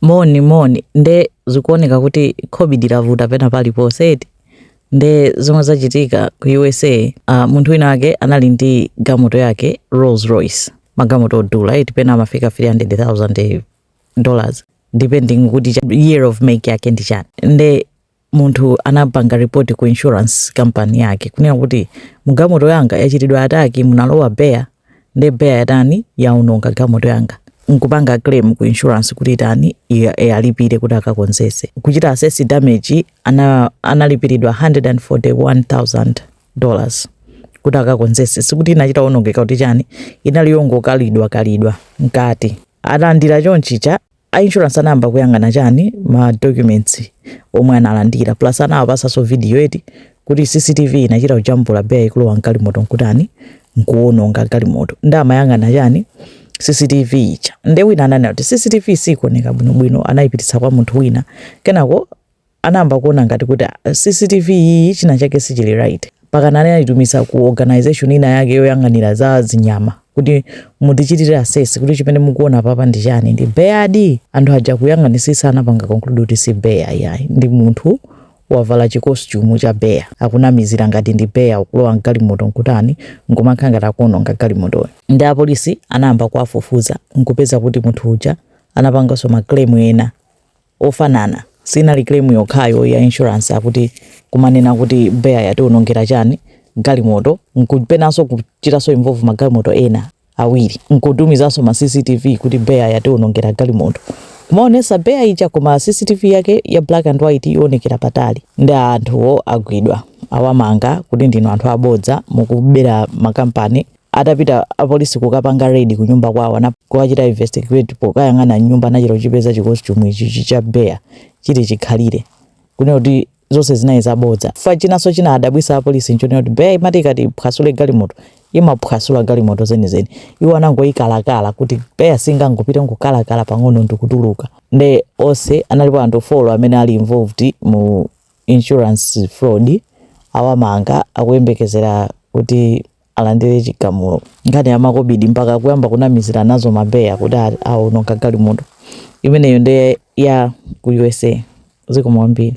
Moni moni nde zikuoneka kuti COVID lavuta pena paliponse eti nde zomwe zachitika ku usa uh, munthu wina wake anali ndi gamoto yake rolls royce magamoto odula eti pena amafika 300000 dollars depending kuti cha- year of make yake ndi chani nde munthu anapanga report ku insurance company yake kunena kuti mugamoto yanga yachitidwa ataki munalowa bear nde bear yatani yaononga gamoto yanga nkupanga claim ku insurance kuti itani iwa- iwalipire kuti akakonzese kuchita assess damage ana, analipiridwa 141000 dollars kuti akakonzese sikuti inachita onongeka kuti chani inali yongokalidwa kalidwa mkati alandira chonchicha a insurance anayamba kuyang'ana chani ma documents omwe analandira plus anawapasanso video eti kuti cctv inachita kujambula bear ikulowa mgalimoto nkutani nkuwononga galimoto nde amayang'ana chani cctv ija nde wina ananena kuti cctv sikuoneka bwinobwino anayipititsa kwa munthu wina kenako anayamba kuona ngati kuti ah, CCTV iyi china chake sichili right mpakana anayitumiza ku organization ina yake yoyang'anira za zinyama kuti mutichitire assess kuti chimene mukuona apapa ndi chani ndi bear di anthu aja kuyang'anisisa anapanga conclude kuti si bear ayi ndi munthu wavala chikostumu cha bear akunamizira ngati ndi bear akulowa mgalimoto nkutani nkumakhala ngati akuononga galimotoyo nde apolisi anayamba kuwafufuza nkupeza kuti munthu uja anapanganso ma claim ena ofanana sinali claim yokhayo ya insurance akuti kumanena kuti bear yatiwonongera chani galimoto nkupezanso kuchitanso involve magalimoto ena awiri nkutumizanso ma cctv kuti bear yatiwonongera galimoto kumaonesa bear ija koma cctv yake ya black and white yowonekera patali nde anthuwo agwidwa awamanga kuti ndinu anthu abodza mukubera makampani atapita apolisi kukapanga raid ku nyumba kwawo ndi kuwachita investigate pokayang'ana nyumba anachita kuchipeza chikostumu ichi cha bear chili chikhalire kunena kuti zonse zinali zabodza fa chinanso china adabwisa apolisi nchonena kuti bear imati ikati iphwasule galimoto imaphwasula galimoto zenizeni iwo anangoyikalakala kuti bear singangopita nkukalakala pang'ono ndikutuluka nde onse analipo anthu folo amene ali involved mu insurance fraud awamanga akuyembekezera kuti alandire chigamulo nkhani ya makobidi mpaka kuyamba kunamizira nazo ma bear kuti aononga galimoto imeneyo ndi ya ku usa zikomo kwambiri